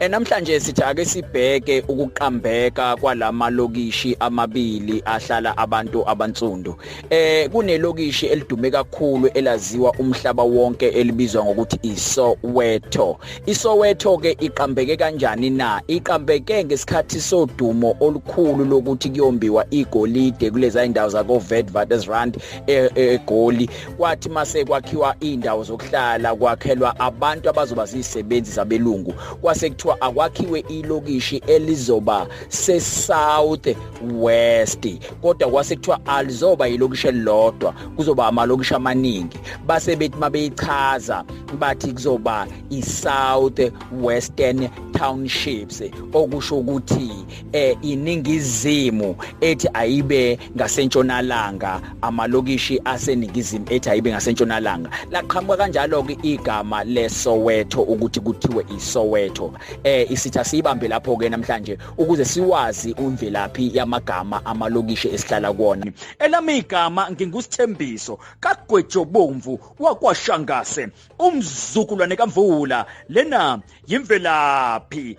E, namhlanje sithi ake sibheke ukuqambeka kwalama lokishi amabili ahlala abantu abansundu. Eh kunelokishi elidume kakhulu elaziwa umhlaba wonke elibizwa ngokuthi iSoweto. ISoweto ke iqambeke kanjani na? Iqambeke ngesikhathi sodumo olukhulu lokuthi kuyombiwa igolide kulezi indawo zako Witwatersrand eGoli. E, kwathi mase kwakhiwa indawo zokuhlala kwakhelwa abantu abazoba zisebenzi zabelungu kwase kuthiwa akwakhiwe ilokishi elizoba se south west kodwa kwase kuthiwa alizoba ilokishi elilodwa kuzoba amalokishi amaningi base bethi mabeyichaza bathi kuzoba i south western townships okusho ukuthi eh iningizimu ethi ayibe ngasentshonalanga amalokishi aseningizimu ethi ayibe ngasentshonalanga laqhamuka kanjalo-ke igama lesoweto ukuthi kuthiwe isoweto eh isitha siyibambe lapho-ke namhlanje ukuze siwazi imvelaphi yamagama amalokishi esihlala kuwona elami igama ngingusithembiso kagwejobomvu wakwashangase umzukulwane kamvula lena yimvelaphi